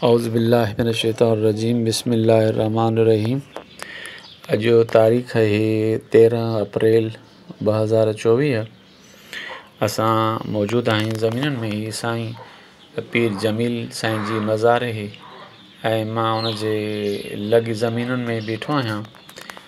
اعوذ بالله من الشيطان الرجيم بسم الله الرحمٰن الرحيم اڄ جو تاريخ اهي تيرهن اپريل ٻه هزار چوويهه اسان موجود آهيون زمينن ۾ هي سائين پير جميل سائين جي مزار اهي ۽ مان ان جي لڳ زمينن ۾ بيٺو آهيان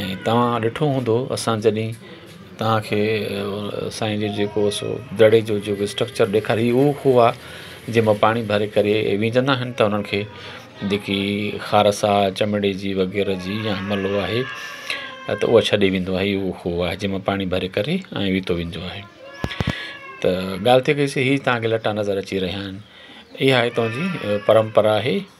۽ توهان ڏٺو هوندو اسان جڏهن توهان کي سائين جو جيڪو سو دڙي جو جيڪو اسٽرڪچر ڏيکاري اهو خوهه آ جنهن مان پاڻي ڀري ڪري وجهندا آهن ته انهن کي جيڪي خارس آ چمڙي جي وغيره جي يا ملوه آهي ته اهو ڇڏي ويندو آهي اهو خوهه آهي جنهن مان پاڻي ڀري ڪري ۽ ويتو ويندو آهي ته ڳالهه ٿي وئي سي هي توهان کي لٽا نظر اچي رهيا آهن اها هتان جي پرمپرا آهي